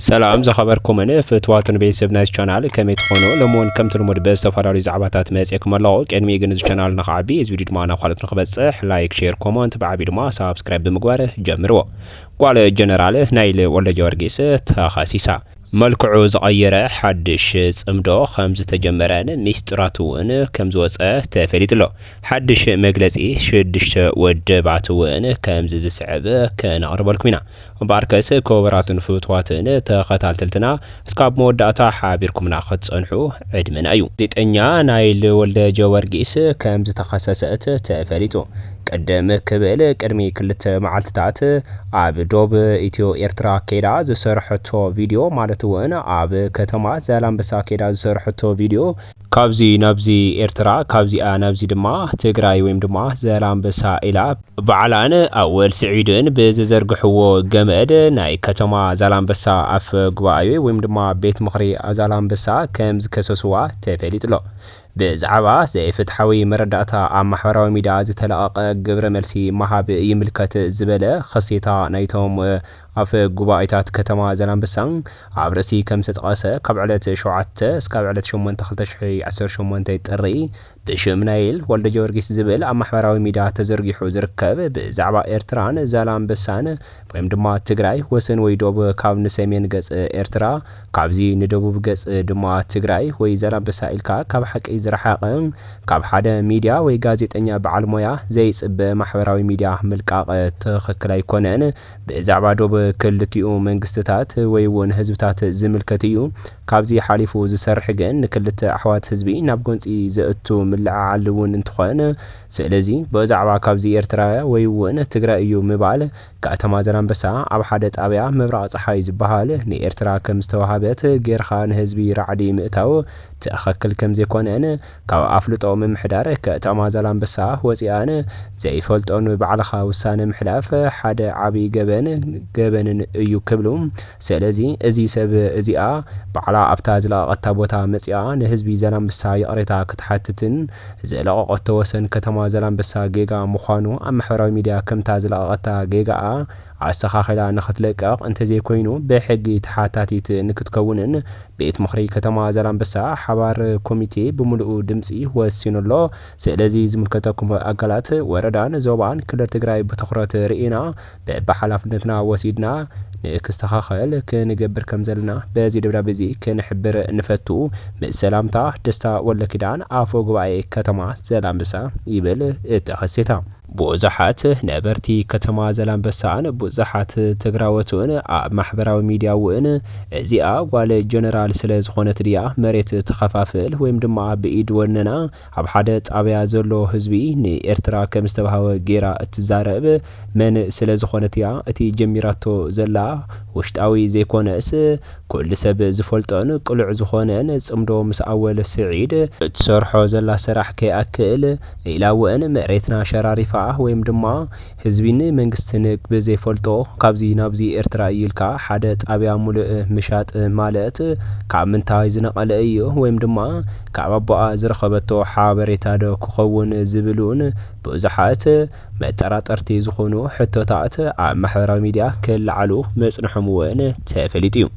ሰላም ዝኸበርኩምን ፍትዋትን ቤተሰብ ናይዚ ቻናል ከመይ ትኾኑ? ሎሚ እውን ከምቲ ልሙድ ብዝተፈላለዩ ዛዕባታት መፅኤኩም ኣለኹ። ቅድሚ ግን እዚ ቻናል ንክዓቢ እዚ ቪድዮ ድማ ናብ ካልኦት ንክበፅሕ ላይክ፣ ሼር፣ ኮመንት ብዓብዩ ድማ ሳብስክራይብ ብምግባር ጀምርዎ። ጓል ጀነራል ናይል ወልደጀወርጊስ ተኸሲሳ። መልክዑ ዝቐየረ ሓድሽ ጽምዶ ከም ዝተጀመረን ሚስጥራት እውን ከም ዝወጸ ተፈሊጡ ኣሎ። ሓድሽ መግለጺ ሽዱሽተ ወደባት እውን ከምዚ ዝስዕብ ከነቕርበልኩም ኢና። እምበኣርከስ ክቡራትን ፍትዋትን ተኸታተልትና እስካብ መወዳእታ ሓቢርኩምና ክትጸንሑ ዕድመና እዩ። ጋዜጠኛ ናይል ወልደጀወርጊስ ከም ዝተኸሰሰት ተፈሊጡ። ቅድም ክብል ቅድሚ ክልተ መዓልቲታት ኣብ ዶብ ኢትዮ ኤርትራ ኬዳ ዝሰርሐቶ ቪድዮ ማለት'ውን ኣብ ከተማ ዛላምበሳ ኬዳ ዝሰርሐቶ ቪድዮ፣ ካብዚ ናብዚ ኤርትራ ካብዚኣ ናብዚ ድማ ትግራይ ወይም ድማ ዘላንበሳ ኢላ ባዕላን ኣወል ስዒድን ብዝዘርግሕዎ ገመድ ናይ ከተማ ዛላንበሳ ኣፈ ጉባኣኤ ወይም ድማ ቤት ምኽሪ ዛላንበሳ ከም ዝከሰስዋ ተፈሊጡ'ሎ። ብዛዕባ ዘይፍትሓዊ መረዳእታ ኣብ ማሕበራዊ ሚድያ ዝተለቐቐ ግብረ መልሲ ምሃብ ይምልከት ዝበለ ኽሴታ ናይቶም ኣፈ ጉባኤታት ከተማ ዛላምበሳ ኣብ ርእሲ ከም ዝተጠቐሰ ካብ ዕለት ሸውዓተ እስካብ ዕለት ሸሞንተ ክልተ ሽሕን ዓሰርተ ሸሞንተን ጥሪ ብሽም ናይል ወልደጀወርጊስ ዝብል ኣብ ማሕበራዊ ሚድያ ተዘርጊሑ ዝርከብ ብዛዕባ ኤርትራን ዛላምበሳን ወይም ድማ ትግራይ ወሰን ወይ ዶብ ካብ ንሰሜን ገፅ ኤርትራ ካብዚ ንደቡብ ገፅ ድማ ትግራይ ወይ ዛላምበሳ ኢልካ ካብ ሓቂ ዝረሓቐ ካብ ሓደ ሚድያ ወይ ጋዜጠኛ በዓል ሞያ ዘይፅበ ማሕበራዊ ሚድያ ምልቃቕ ትኽክል ኣይኮነን። ብዛዕባ ዶብ ክልቲኡ መንግስትታት ወይ እውን ህዝብታት ዝምልከት እዩ። ካብዚ ሓሊፉ ዝሰርሕ ግን ንክልተ ኣሕዋት ህዝቢ ናብ ጎንፂ ዘእቱ ምልዕዓል እውን እንትኾን ስለዚ ብእዛዕባ ካብዚ ኤርትራውያ ወይ እውን ትግራይ እዩ ምባል ከተማ ዘላንበሳ ኣብ ሓደ ጣብያ ምብራቕ ፀሓይ ዝበሃል ንኤርትራ ከምዝተወሃበት ገይርኻ ንህዝቢ ራዕዲ ምእታው ትኸክል ከምዘይኮነን ካብ ኣፍልጦ ምምሕዳር ከተማ ዛላምበሳ ወጺኣን ዘይፈልጦን ባዕልኻ ውሳነ ምሕላፍ ሓደ ዓቢ ገበን ገበንን እዩ ክብሉ ሰለዚ እዚ ሰብ እዚኣ ባዕላ ኣብታ ዝለቀቀታ ቦታ መጺኣ ንህዝቢ ዛላምበሳ ይቅሬታ ክትሓትትን ዝለቀቀቶ ወሰን ከተማ ዛላምበሳ ጌጋ ምዃኑ ኣብ ማሕበራዊ ሚድያ ከምታ ዝለቀቀታ ጌጋኣ ኣስተኻኺላ ንክትልቀቕ እንተዘይኮይኑ ብሕጊ ተሓታቲት ንክትከውንን ቤት ምኽሪ ከተማ ዛላምበሳ ሓባር ኮሚቴ ብሙሉኡ ድምፂ ወሲኑ ኣሎ። ስለዚ ዝምልከተኩም ኣካላት ወረዳን ዞባን ክልል ትግራይ ብትኹረት ሪኢና በቢሓላፍነትና ወሲድና ንክስተኻኸል ክንገብር ከምዘለና በዚ ደብዳቤ እዚ ክንሕብር ንፈቱ። ምስ ሰላምታ ደስታ ወልደኪዳን ኣፈ ጉባኤ ከተማ ዘላምበሳ ይብል እቲ ሓሴታ። ቡዙሓት ነበርቲ ከተማ ዘላንበሳን ቡዛሓት ትግራዎት'ውን ኣብ ማሕበራዊ ሚድያ'ውን እዚኣ ጓል ጀነራል ስለ ዝኾነት ድያ መሬት ትኸፋፍል ወይም ድማ ብኢድ ወነና ኣብ ሓደ ጣብያ ዘሎ ህዝቢ ንኤርትራ ከም ዝተባህወ ጌራ እትዛረብ መን ስለ ዝኾነት እያ እቲ ጀሚራቶ ዘላ ውሽጣዊ ዘይኮነስ ኩሉ ሰብ ዝፈልጦን ቅሉዕ ዝኾነን ጽምዶ ምስ ኣወል ስዒድ እትሰርሖ ዘላ ስራሕ ከይኣክል ዒላወእን መሬትና ሸራሪፋኣ ወይም ድማ ህዝቢን መንግስትን ብዘይፈልጦ ካብዚ ናብዚ ኤርትራ እዩ ኢልካ ሓደ ጣብያ ሙልእ ምሻጥ ማልት ካብ ምንታይ ዝነቀለ እዩ ወይም ድማ ካብ ኣቦኣ ዝረኸበቶ ሓበሬታዶ ክኸውን ዝብልውን ብዙሓት መጠራጠርቲ ዝኾኑ ሕቶታት ኣብ ማሕበራዊ ሚድያ ክለዓሉ ምጽንሖም እውን ተፈሊጡ እዩ።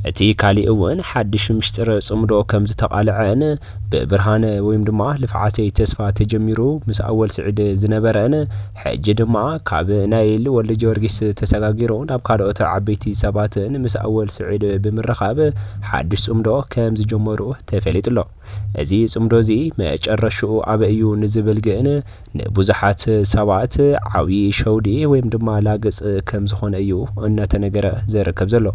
እቲ ካሊእ እውን ሓድሽ ምሽጥር ጽምዶ ከም ዝተቓልዐን ብብርሃነ ወይም ድማ ልፍዓተይ ተስፋ ተጀሚሩ ምስ ኣወል ስዒድ ዝነበረን ሕጂ ድማ ካብ ናይል ወልደጀወርጊስ ተሰጋጊሩ ናብ ካልኦት ዓበይቲ ሰባትን ምስ ኣወል ስዒድ ብምርኻብ ሓድሽ ጽምዶ ከም ዝጀመሩ ተፈሊጡ ኣሎ። እዚ ጽምዶ እዚ መጨረሽኡ ኣበይ እዩ ንዝብል ግን ንብዙሓት ሰባት ዓብዪ ሸውዲ ወይም ድማ ላግፅ ከም ዝኾነ እዩ እናተነገረ ዝርከብ ዘሎ።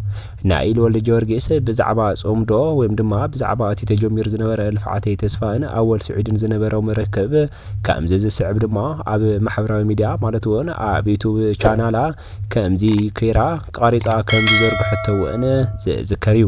ናይ ኢሉ ወልደ ጊዮርጊስ ብዛዕባ ጾምዶ ወይም ድማ ብዛዕባ እቲ ተጀሚሩ ዝነበረ ልፍዓተይ ተስፋን ኣወል ስዒድን ዝነበሮም ርክብ ከምዚ ዝስዕብ ድማ ኣብ ማሕበራዊ ሚዲያ ማለት እውን ኣብ ዩቱብ ቻናላ ከምዚ ከይራ ቀሪጻ ከም ዝዘርግሐቶ እውን ዝዝከር እዩ።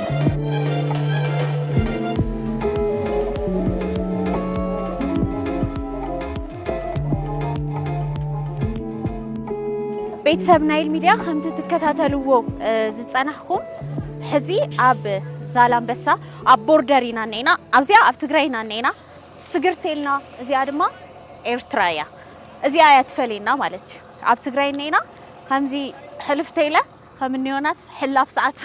ቤተሰብ ናይል ሚድያ ከምቲ ትከታተልዎ ዝፀናሕኹም ሕዚ ኣብ ዛላንበሳ ኣብ ቦርደር ኢና እኒና ኣብዚኣ ኣብ ትግራይ ኢና እኒና ስግርቴልና እዚኣ ድማ ኤርትራ እያ እዚኣ እያ ትፈልየና ማለት እዩ ኣብ ትግራይ እኒና ከምዚ ሕልፍተይለ ከም እኒ ዮናስ ሕላፍ ሰዓት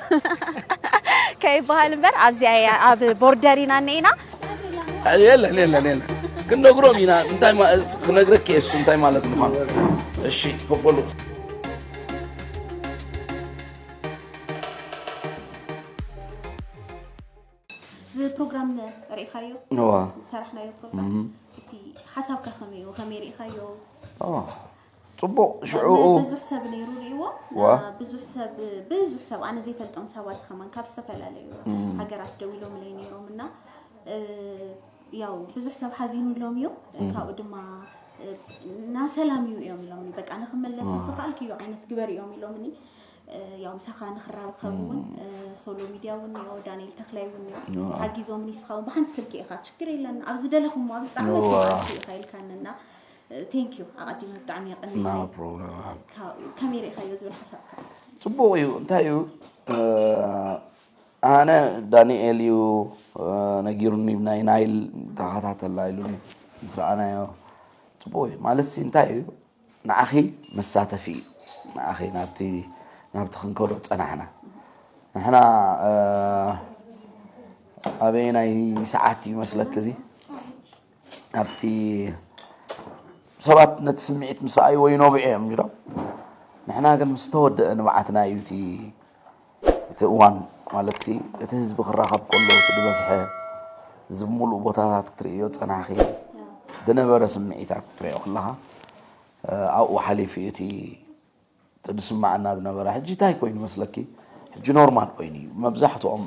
ከይበሃል እምበር ኣብዚኣ እያ ኣብ ቦርደር ኢና እኒኤና የለን የለን የለን ክንነግሮም ኢና እንታይ ማ- እስ- ክነግረኪ እየ እሱ እንታይ ማለት ምኳኑ እሺ በበሉ እዚ ፕሮግራም ርኢኻዮ እዋ ዝሰራሕናዮ ፕሮግራም እስቲ ሓሳብካ ከመይ እዩ ከመይ ርኢኻዮ እዋ ፅቡቅ ሽዑኡ ብዙሕ ሰብ ነይሩ ሪእዎ ብዙሕ ሰብ ብዙሕ ሰብ ኣነ ዘይፈልጦም ሰባት ከማን ካብ ዝተፈላለዩ ሃገራት ደው ኢሎም ለይ ነይሮም እና ያው ብዙሕ ሰብ ሓዚኑ ሎም እዮም ካብኡ ድማ ና ሰላም እዩ እዮም ኢሎም በቃ ንክመለሱ ዝኽኣልክ እዩ ዓይነት ግበር እዮም ኢሎምኒ ያው ምሳኻ ንክራብ ከውን ሶሎ ሚድያ እውን እዮ ዳንኤል ተክላይ እውን እዮ ሓጊዞምኒ ስኻውን ብሓንቲ ስልኪ ኢኻ ችግር የለን ኣብ ዝደለኹም ኣብ ዝጣዕመት ኢኻ ኢልካንና ቴንኪዩ ኣቐዲመ ብጣዕሚ የቐኒ No problem. ካብ- ከመይ ርኢኻዮ ዝብል ሓሳብካ ፅቡቅ እዩ እንታይ እዩ እ፣ ኣነ ዳንኤል እዩ እ፣ ነጊሩኒ ናይ ናይል ተኸታተላ ኢሉኒ ምስ ረኣናዮ ፅቡቅ እዩ ማለት ሲ እንታይ እዩ ንዓኺ መሳተፊ እዩ ንዓኺ ናብቲ ናብቲ ክንከዶ ፀናሕና ንሕና እ፣ ኣበየናይ ሰዓት እዩ መስለኪ እዚ ኣብቲ ሰባት ነቲ ስምዒት ምስ ረኣይዎ ይነብዑ እዮም ኢሎም ንሕና ግን ምስ ተወደአ ንብዓትና እዩ እቲ እቲ እዋን ማለት ሲ እቲ ህዝቢ ክራኸብ ከሎ እቲ ዝበዝሐ ህዝቢ ሙሉእ ቦታታት ክትርእዮ ፀናኺ ዝነበረ ስምዒታት ክትሪኦ ከለኻ ኣብኡ ሓሊፉ እቲ እቲ ዝስመዐና ዝነበረ ሕጂ ታይ ኮይኑ መስለኪ ሕጂ ኖርማል ኮይኑ እዩ መብዛሕትኦም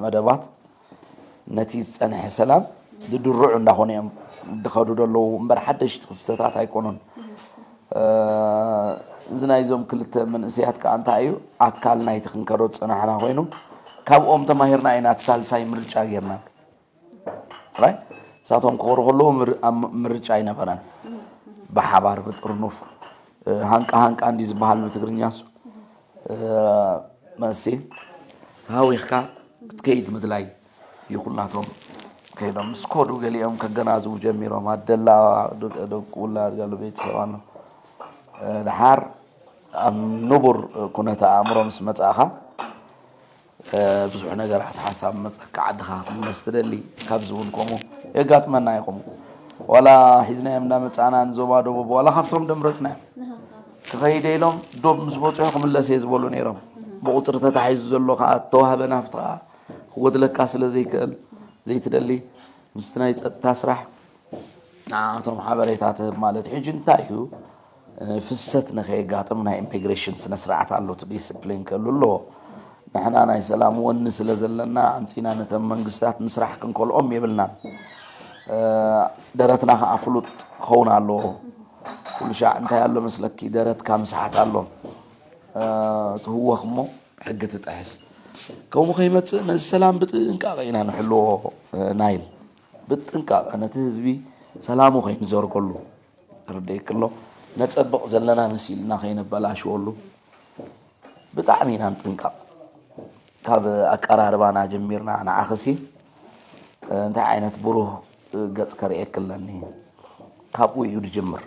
መደባት ነቲ ዝፀንሐ ሰላም ዝድርዑ እንዳኾነ እዮም ዝኸዱ ዘለዉ እምበር ሓደሽቲ ክስተታት ኣይኮኑን እዚ ናይዞም ክልተ መንእሰያት ከዓ እንታይ እዩ ኣካል ናይቲ ክንከዶ ዝፀናሕና ኮይኑ ካብኦም ተማሂርና ኢና እቲ ሳልሳይ ምርጫ ጌርና ጥራይ ንሳቶም ክኾሩ ከለዉ ምርጫ ኣይነበረን። ብሓባር ብጥርኑፍ ሃንቃ ሃንቃ እንዲ ዝበሃል ብትግርኛሱ መሲ ተሃዊኽካ ክትከይድ ምድላይ ይኹናቶም ከይዶም ምስ ኮዱ ገሊኦም ከገናዝቡ ጀሚሮም ኣደላ ደቁላ ገሉ ቤተሰብ ኣሎ ድሓር ኣብ ንቡር ኩነተ ኣእምሮ ምስ መጻእኻ ብዙሕ ነገራት ሓሳብ መፀካ ዓድካ ክትምለስ ትደሊ ካብዚ እውን ከምኡ የጋጥመና እዩ ከምኡ ዋላ ሒዝናዮም እንዳመፃእና ንዞባ ደቡብ ዋላ ካብቶም ደምረፅናዮም ክኸይደ ኢሎም ዶብ ምስ በፅሑ ክምለስ እየ ዝበሉ ነይሮም ብቁፅሪ ተታሒዙ ዘሎ ከዓ ተዋህበ ናፍቲ ከዓ ክጎድለካ ስለ ዘይክእል ዘይትደሊ ምስቲ ናይ ፀጥታ ስራሕ ንዓቶም ሓበሬታ ትህብ ማለት እዩ ሕጂ እንታይ እዩ ፍሰት ንከየጋጥም ናይ ኢሚግሬሽን ስነ ስርዓት ኣሎ እቲ ዲስፕሊን ክህሉ ኣለዎ ንሕና ናይ ሰላም ወኒ ስለ ዘለና ኣምፂና ነተን መንግስታት ምስራሕ ክንከልኦም የብልናን ደረትና ከዓ ፍሉጥ ክኸውን ኣለዎ ኩሉ ሻዕ እንታይ ኣሎ መስለኪ ደረትካ ምስሓት ኣሎ ትህወኽ እሞ ሕጊ ትጥሕስ ከምኡ ከይመፅእ ነዚ ሰላም ብጥንቃቐ ኢና ንሕልዎ ናይል ብጥንቃቐ ነቲ ህዝቢ ሰላሙ ከይንዘርገሉ ርደየኪ ኣሎ ነፀብቅ ዘለና መሲልና ከይነበላሽወሉ ብጣዕሚ ኢና ንጥንቀቅ ካብ ኣቀራርባና ጀሚርና ንዓኽሲ እንታይ ዓይነት ብሩህ ገፅ ከርእየኪ ኣለኒ ካብኡ እዩ ዝጅምር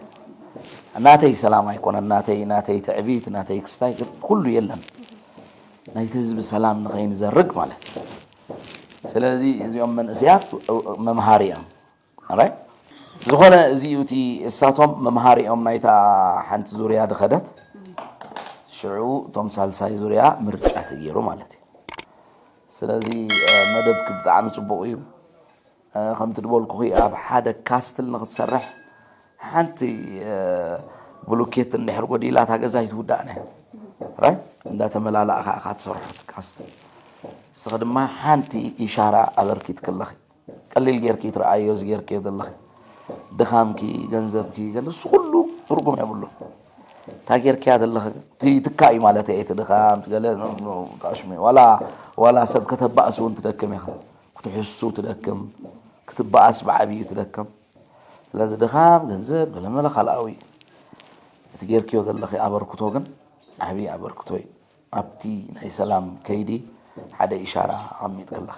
ናተይ ሰላም ኣይኮነን ናተይ ናተይ ትዕቢት ናተይ ክስታይ ኩሉ የለን ናይቲ ህዝቢ ሰላም ንኸይንዘርግ ማለት እዩ ስለዚ እዚኦም መንእስያት መምሃሪ እዮም ራይት ዝኾነ እዚ እዩ እቲ እሳቶም መምሃሪኦም ናይታ ሓንቲ ዙርያ ድኸደት ሽዑ እቶም ሳልሳይ ዙርያ ምርጫ ተገይሩ ማለት እዩ ስለዚ መደብኪ ብጣዕሚ ፅቡቕ እዩ ከምቲ ድበልኩኺ ኣብ ሓደ ካስትል ንክትሰርሕ ሓንቲ ብሉኬት እንድሕር ጎዲላ እታ ገዛ ይትውዳእና ራይ እንዳተመላላእኻ ኢኻ ትሰርሖ ካስትል ንስኺ ድማ ሓንቲ ኢሻራ ኣበርኪትክለኺ ቀሊል ጌርኪ ትርኣይዮ እዚ ጌርክዮ ዘለኺ ድኻምኪ ገንዘብኪ ንሱ ኩሉ ትርጉም የብሉን እንታይ ጌርክያ ዘለኺ እቲ ትካ እዩ ማለት እየ እቲ ድኻም ገለ ጣሽሚ ዋላ ዋላ ሰብ ከተባእስ እውን ትደክም ኢኻ ክትሕሱ ትደክም ክትባኣስ ብዓብዩ ትደክም ስለዚ ድኻም ገንዘብ ገለመለ ካልኣዊ እቲ ጌርክዮ ዘለኺ ኣበርክቶ ግን ዓብዪ ኣበርክቶ እዩ ኣብቲ ናይ ሰላም ከይዲ ሓደ ኢሻራ ኣቐሚጥክለኺ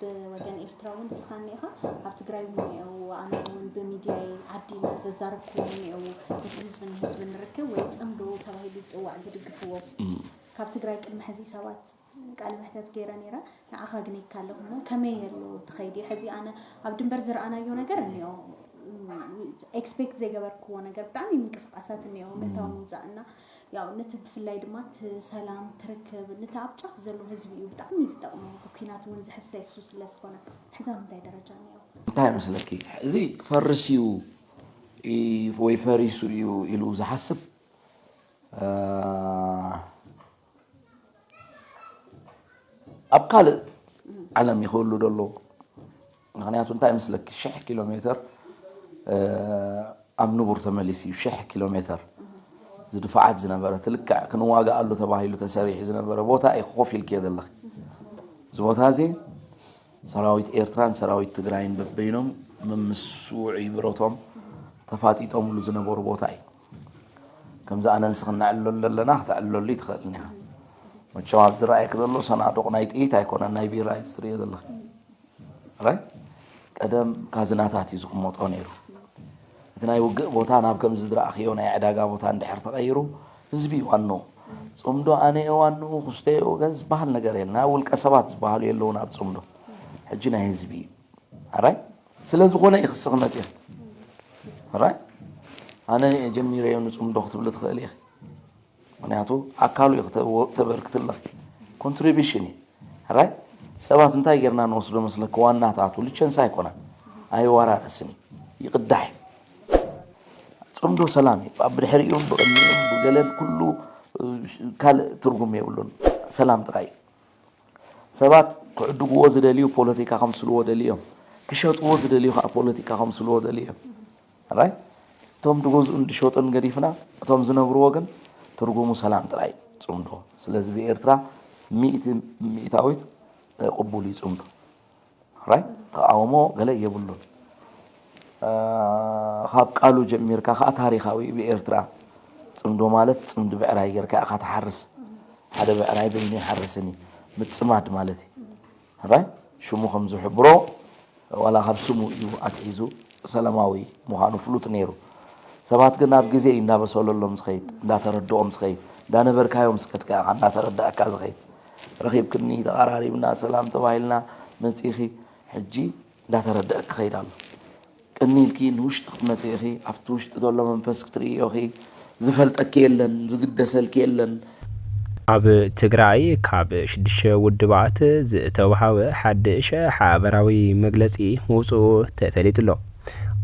ብወገን ኤርትራ ውን ንስኻ እኒኤኻ ኣብ ትግራይ ውን እኒኤዉ ኣነ ውን ብሚድያይ ዓዲ ኢለ ዘዛረብክዎም እኒኤዉ ነቲ ህዝቢ ንህዝቢ ንርክብ ወይ ፅምዶ ተባሂሉ ዝፅዋዕ ዝድግፍዎ ካብ ትግራይ ቅድሚ ሕዚ ሰባት ቃለ መሕተት ገይረ ነይረ ንዓኻ ግኔካ ኣለኹ እሞ ከመይ ኣሎ ትኸይዲ ሕዚ ኣነ ኣብ ድንበር ዝረኣናዮ ነገር እኒኦ ኤክስፔክት ዘይገበርክዎ ነገር ብጣዕሚ ምንቅስቃሳት እኒኦ ምእታው ምውፃእ እና ያው ነቲ ብፍላይ ድማ እቲ ሰላም ትርክብ ነቲ ኣብ ጫፍ ዘሎ ህዝቢ እዩ ብጣዕሚ ዝጠቕሙ ብኲናት እውን ዝሕሰ እሱ ስለ ዝኾነ ሕዛ ምንታይ ደረጃ እኒኦ እንታይ መስለኪ እዚ ክፈርስ እዩ ወይ ፈሪሱ እዩ ኢሉ ዝሓስብ ኣብ ካልእ ዓለም ይኽእሉ ደሎ ምክንያቱ እንታይ መስለኪ ሽሕ ኪሎ ሜተር ኣብ ንቡር ተመሊሱ እዩ ሽሕ ኪሎ ሜተር ዝድፋዓት ዝነበረት ልክዕ ክንዋጋኣሉ ተባሂሉ ተሰሪሑ ዝነበረ ቦታ እዩ ኮፍ ኢልክዮ ዘለኺ እዚ ቦታ እዚ ሰራዊት ኤርትራን ሰራዊት ትግራይን በበይኖም መምስ ውዑይ ብረቶም ተፋጢጦምሉ ዝነበሩ ቦታ እዩ ከምዚ ኣነንስ ክነዕለሉ ኣለና ክተዕለሉ ይትኽእልኒ ኢኻ መቸም ኣብ ዝረኣየክ ዘሎ ሰናዱቕ ናይ ጥይት ኣይኮነን ናይ ቢራ እዩ ዝትርእዮ ዘለኺ ራይ ቀደም ካዝናታት እዩ ዝቕመጦ ነይሩ። እቲ ናይ ውግእ ቦታ ናብ ከምዚ ዝረኣኽዮ ናይ ዕዳጋ ቦታ እንድሕር ተቐይሩ ህዝቢ እዩ ዋንኡ። ፅምዶ ኣነ እየ ዋንኡ፣ ክስቶ እየ ወገን ዝበሃል ነገር የለን። ኣብ ውልቀ ሰባት ዝበሃሉ የለውን ኣብ ፅምዶ። ሕጂ ናይ ህዝቢ እዩ። ራይ ስለ ዝኾነ እዩ ክሲ ክመፅእ ራይ ኣነ እየ ጀሚረዮ ንፅምዶ ክትብሊ ትኽእሊ ኢኺ። ምክንያቱ ኣካሉ እዩ ክተበርክትለክ ኮንትሪቢሽን እዩ ራይ ሰባት እንታይ ጌርና ንወስዶ መስለክ ዋናታቱ ልቸንሳ ኣይኮነን ኣይወራረስን እዩ ይቅዳሕ እዩ ፅምዶ ሰላም እዩ ኣብ ብድሕሪኡን ብቅድሚኡን ብገለን ኩሉ ካልእ ትርጉም የብሉን ሰላም ጥራይ እዩ ሰባት ክዕድግዎ ዝደልዩ ፖለቲካ ከምስልዎ ደልዮም ክሸጥዎ ዝደልዩ ከዓ ፖለቲካ ከምስልዎ ደልዮም ራይት እቶም ድገዝኡን ድሸጡን ገዲፍና እቶም ዝነብርዎ ግን ትርጉሙ ሰላም ጥራይ እዩ ጽምዶ ስለዚ ብኤርትራ ሚእቲ ሚእታዊት ቅቡል እዩ ጽምዶ ራይት ተቃውሞ ገለ የብሉን ካብ ቃሉ ጀሚርካ ከዓ ታሪካዊ ብኤርትራ ፅምዶ ማለት ፅምዲ ብዕራይ ጌርካ ኢኻ ትሓርስ ሓደ ብዕራይ በይኑ ይሓርስን እዩ ምፅማድ ማለት እዩ ሕራይ ሽሙ ከም ዝሕብሮ ዋላ ካብ ስሙ እዩ ኣትሒዙ ሰላማዊ ምዃኑ ፍሉጥ ነይሩ። ሰባት ግን ኣብ ግዜ እዩ እንዳበሰለሎም ዝኸይድ፣ እንዳተረድኦም ዝኸይድ፣ እንዳነበርካዮ ምስ ከድካ ኢኻ እንዳተረዳእካ ዝኸይድ። ረኺብክኒ፣ ተቓራሪብና፣ ሰላም ተባሂልና፣ መጺኺ፣ ሕጂ እንዳተረደእክ ክኸይድ ኣሎ። ቅኒ ኢልኪ ንውሽጢ ክትመጺ ኢኺ፣ ኣብቲ ውሽጢ ዘሎ መንፈስ ክትርእይዮ ኢኺ፣ ዝፈልጠኪ የለን፣ ዝግደሰልኪ የለን። ኣብ ትግራይ ካብ ሽዱሽተ ውድባት ዝተውሃበ ሓድሽ ሓበራዊ መግለፂ ምውፅኡ ተፈሊጡ'ሎ።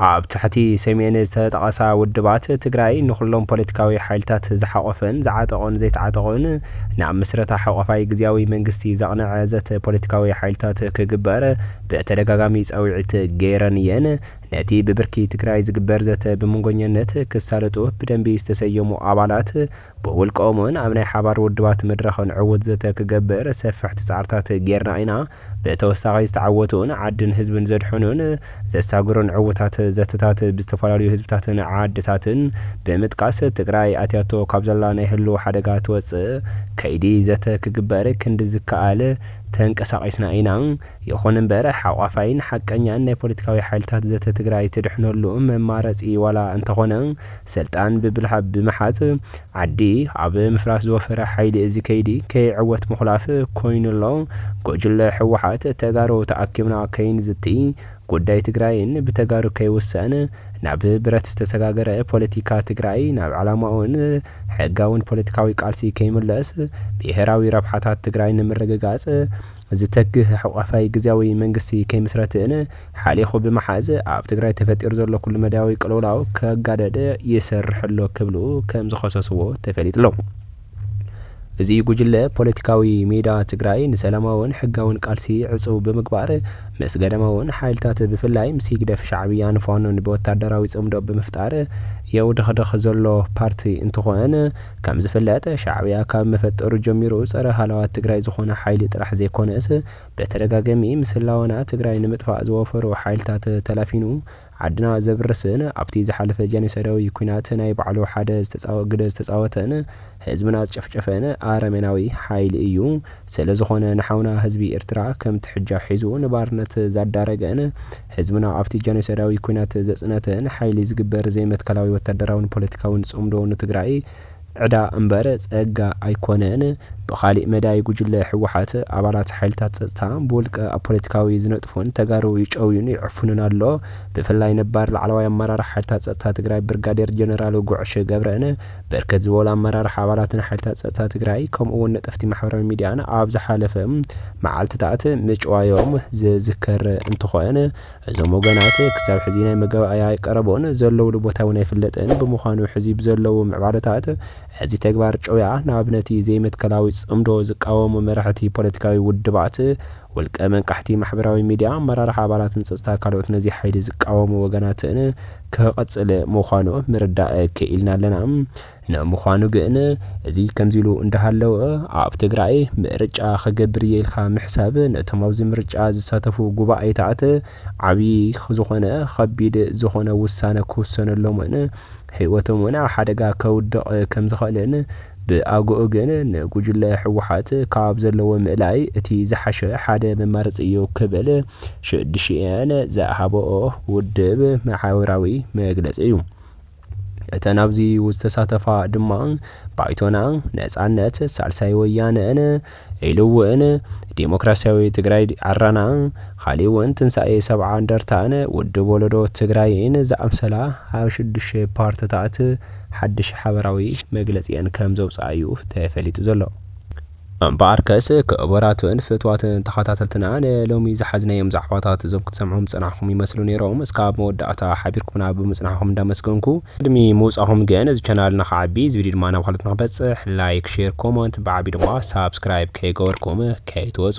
ኣብ ታሕቲ ሰሜን ዝተጠቐሳ ውድባት ትግራይ ንኹሎም ፖለቲካዊ ሓይልታት ዝሓቖፈን ዝዓጠቑን ዘይተዓጠቑን ናብ ምስረታ ሓቋፋይ ግዝያዊ መንግስቲ ዘቕነዐ ዘተ ፖለቲካዊ ሓይልታት ክግበር ብተደጋጋሚ ፃዊዒት ገይረን እየን። ነቲ ብብርኪ ትግራይ ዝግበር ዘተ ብመንጎኘነት ክሳለጡ ብደንቢ ዝተሰየሙ ኣባላት ብውልቀኦም እውን ኣብ ናይ ሓባር ውድባት መድረኽን ዕውት ዘተ ክገብር ሰፈሕቲ ፃዕርታት ገይርና ኢና። ብተወሳኺ ዝተዓወቱን ዓድን ህዝብን ዘድሐኑን ዘሳግሩን ዕውታት ዘተታት ብዝተፈላለዩ ህዝብታትን ዓድታትን ብምጥቃስ ትግራይ ኣትያቶ ካብ ዘላ ናይ ህልው ሓደጋ ትወፅእ ከይዲ ዘተ ክግበር ክንዲ ዝከኣል ተንቀሳቒስና ኢና። ይኹን እምበር ሓቋፋይን ሓቀኛን ናይ ፖለቲካዊ ሓይልታት ዘተ ትግራይ ትድሕነሉ መማረፂ ዋላ እንተኾነ ስልጣን ብብልሃ ብምሓዝ ዓዲ ኣብ ምፍራስ ዝወፈረ ሓይሊ እዚ ከይዲ ከይዕወት ምኹላፍ ኮይኑ ኣሎ። ጉጅለ ህወሓት ተጋሩ ተኣኪብና ከይንዝቲ ጉዳይ ትግራይን ብተጋሩ ከይውሰን ናብ ብረት ዝተሰጋገረ ፖለቲካ ትግራይ ናብ ዕላማኡን ሕጋውን ፖለቲካዊ ቃልሲ ከይምለስ ብሄራዊ ረብሓታት ትግራይ ንምርግጋፅ ዝተግህ ሕቋፋይ ግዝያዊ መንግስቲ ከይምስረት እን ሓሊኹ ብምሓዝ ኣብ ትግራይ ተፈጢሩ ዘሎ ኩሉመዳያዊ ቅልውላው ከጋደድ ይሰርሕ ኣሎ ክብሉ ከምዝኸሰስዎ ተፈሊጡሎ። እዚ ጉጅለ ፖለቲካዊ ሜዳ ትግራይ ንሰላማውን ሕጋውን ቃልሲ ዕፅው ብምግባር ምስ ገዳማውን ሓይልታት ብፍላይ ምስ ሂግደፍ ሻዕብያን ፋኖን ብወታደራዊ ፅምዶ ብምፍጣር የውደኽድኽ ዘሎ ፓርቲ እንትኾን ከምዝፍለጥ ሻዕብያ ካብ መፈጠሩ ጀሚሩ ፀረ ሃላዋት ትግራይ ዝኾነ ሓይሊ ጥራሕ ዘይኮነስ ብተደጋገሚ ምስ ህላወና ትግራይ ንምጥፋእ ዝወፈሩ ሓይልታት ተላፊኑ ዓድና ዘብርስን ኣብቲ ዝሓለፈ ጀኖሳይዳዊ ኩናት ናይ ባዕሉ ሓደ ግደ ዝተፃወተን ህዝብና ዝጨፍጨፈን ኣረሜናዊ ሓይሊ እዩ። ስለዝኾነ ንሓውና ህዝቢ ኤርትራ ከም ትሕጃ ሒዙ ንባርነት ዛዳረገን ህዝብና ኣብቲ ጀኖሳይዳዊ ኩናት ዘጽነተን ሓይሊ ዝግበር ዘይመትከላዊ ወታደራውን ፖለቲካውን ጽምዶ ንትግራይ ዕዳ እምበር ጸጋ ኣይኮነን። ብኻሊእ መዳይ ጉጅለ ህወሓት ኣባላት ሓይልታት ጸጥታ ብውልቀ ኣብ ፖለቲካዊ ዝነጥፉን ተጋሩ ይጨውዩን ይዕፍኑን ኣሎ። ብፍላይ ነባር ላዕለዋይ ኣመራርሓ ሓይልታት ጸጥታ ትግራይ ብርጋዴር ጀነራል ጉዕሽ ገብረን ብርክት ዝበሉ ኣመራርሓ ኣባላትን ሓይልታት ፀጥታ ትግራይ ከምኡ እውን ነጠፍቲ ማሕበራዊ ሚዲያን ኣብ ዝሓለፈ መዓልትታት ምጭዋዮም ዝዝከር እንትኾን እዞም ወገናት ክሳብ ሕዚ ናይ መጋባእያ ኣይቀረቡን፣ ዘለውሉ ቦታ እውን ኣይፍለጥን፣ ብምዃኑ ሕዚ ብዘለዉ ምዕባለታት እዚ ተግባር ጭውያ ናብ ነቲ ዘይመትከላዊ ፅምዶ ዝቃወሙ መራሕቲ ፖለቲካዊ ውድባት ውልቀ መንቃሕቲ ማሕበራዊ ሚድያ ኣመራርሓ ኣባላትን ፀፅታ ካልኦት ነዚ ሓይሊ ዝቃወሙ ወገናት'ን ክቐፅል ምዃኑ ምርዳእ ክኢልና ኣለና። ንምዃኑ ግን እዚ ከምዚ ኢሉ እንዳሃለወ ኣብ ትግራይ ምርጫ ክገብር እየ ኢልካ ምሕሳብ ነቶም ኣብዚ ምርጫ ዝሳተፉ ጉባኤታት ዓብዪ ዝኾነ ኸቢድ ዝኾነ ውሳነ ክውሰነሎምን ህይወቶም እውን ኣብ ሓደጋ ከውድቕ ከምዝኸእልን ብኣግኡ ግን ንጉጅለ ህወሓት ካብ ዘለዎ ምእላይ እቲ ዝሓሸ ሓደ መማረፂ እዩ ክብል ሽድሽኤን ዝሃበኦ ውድብ መሓውራዊ መግለፂ እዩ። እተን ኣብዚ ዝተሳተፋ ድማ ባይቶና፣ ነፃነት፣ ሳልሳይ ወያነን፣ ኢሉ እውን ዴሞክራሲያዊ ትግራይ ዓረና ኻሊእ እውን ትንሳኤ ሰብዓ እንደርታን ውድብ ወለዶ ትግራይን ዝኣምሰላ ኣብ ሽዱሽተ ፓርትታት ሓድሽ ሓበራዊ መግለፂኤን ከም ዘውፅኣ እዩ ተፈሊጡ ዘሎ። እምበኣርከስ ክቡራትን ፍትዋትን ተኸታተልትና ንሎሚ ዝሓዝናዮም ዛዕባታት እዞም ክትሰምዕዎም ዝፀናሕኹም ይመስሉ ነይሮም እስካብ መወዳእታ ሓቢርኩምና ብምፅናሕኹም እንዳመስገንኩ ቅድሚ ምውጻኹም ግን እዚ ቻናልና ክዓቢ እዚ ቪድዮ ድማ ናብ ካልኦት ንክበጽሕ ላይክ ሼር ኮሞንት ብዓቢ ድማ ሳብስክራይብ ከይገበርኩም ከይትወጹ።